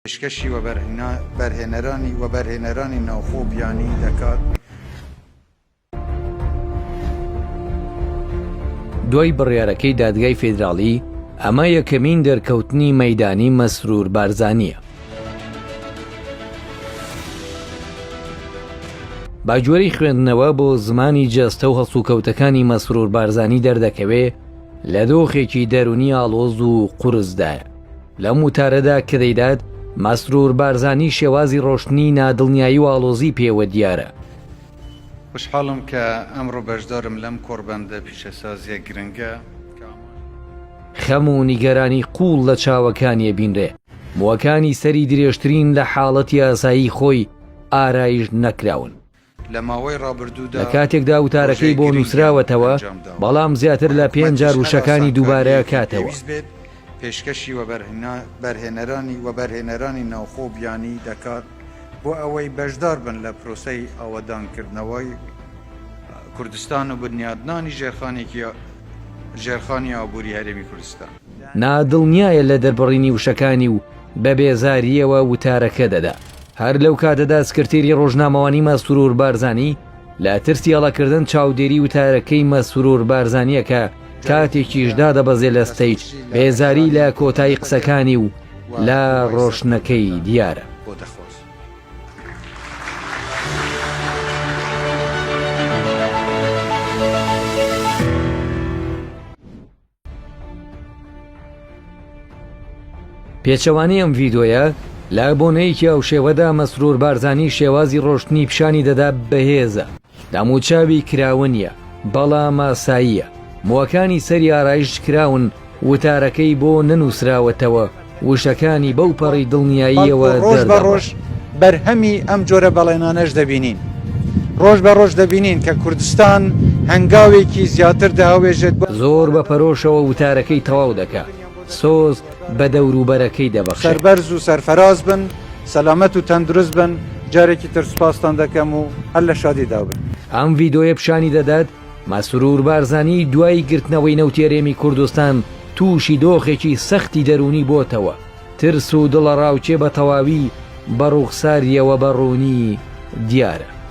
پێشکەشی وەبەرهێنەرانی وەبەرهێنەرانی ناوخۆ و بیانی دەکات. دوای بڕیارەکەی دادگای فیدراڵی، ئەمە یەکەمین دەرکەوتنی مەیدانی مەسرور بارزانییە. بە گوێرەی خوێندنەوە بۆ زمانی جەستە و هەڵسوکەوتەکانی مەسرور بارزانی دەردەکەوێ لە دۆخێکی دەرونی ئاڵۆز و قورسدایە. لەم وتارەدا کە دەیدات، مەسرور بارزانی شێوازی ڕۆشتنی نادڵنیایی و ئاڵۆزی پێوە دیارە. خوشحاڵم کە ئەمڕۆ بەشدارم لەم کۆڕبەندە پیشەسازییە گرنگە. خەم و نیگەرانی قووڵ لە چاوەکانی ئەبینرێ. مووەکانی سەری درێژترین لە حاڵەتی ئاسایی خۆی ئارایش نەکراون. لە ماوەی ڕابردوودا لەکاتێکدا وتارەکەی بۆ نووسراوەتەوە بەڵام زیاتر لە پێنج جار وشەکانی دووبارە کاتەوە. پێشکەشی وەبەرهێنەرانی ناوخۆو بیانی دەکات بۆ ئەوەی بەشدار بن لە پرۆسەی ئاوەدانکردنەوەی کوردستان و بنیادنانی ژێرخانی ئابووری هەرێمی کوردستان. نادڵنیایە لە دەربڕینی وشەکانی و بە بێزارییەوە وتارەکە دەدا. هەر لەو کاتەدا سکرتێری ڕۆژنامەوانی مەسرور بارزانی لە ترسی هەڵەکردن چاودێری وتارەکەی مەسرور بارزانیەکە کاتێکیش دادەبەزێ لە ستەیت بێزاری لە کۆتایی قسەکانی و لە ڕۆشنەکەی دیارە. پێچەوانەی ئەم ڤیدۆیە لە بۆنەیەکی ئەو شێوەدا مەسرور بارزانانی شێوازی ڕۆشتنی پیشانی دەدا بەهێزە داموچاوی کراوە نیە بەڵا ماساییە موەکانی سەری ئارایش کراون وتارەکەی بۆ نەنووسراوەتەوە وشەکانی بەو پەڕی دڵنیاییەوە دەردەبڕن. ڕۆژ بە ڕۆژ بەرهەمی ئەم جۆرە بەڵێنانەش دەبینین. ڕۆژ بە ڕۆژ دەبینین کە کوردستان هەنگاوێکی زیاتر دەهاوێژێت بۆ. زۆر بە پەرۆشەوە وتارەکەی تەواو دەکا. سۆز بە دەوروبەرەکەی دەبەخشێ. سەربەرز و سەرفەراز بن، سەلامەت و تەندروست بن، جارێکی تر سوپاستان دەکەم و هەر لە شادیدا بن. ئەم ڤیدۆیە پیشانی دەدات مەسرور بارزانی دوای گرتنەوەی نەوتی هەرێمی کوردستان تووشی دۆخێکی سەختی دەروونی بۆتەوە، ترس و دڵەڕاوکێ بە تەواوی بە ڕووخسارییەوە بە ڕوونی دیارە.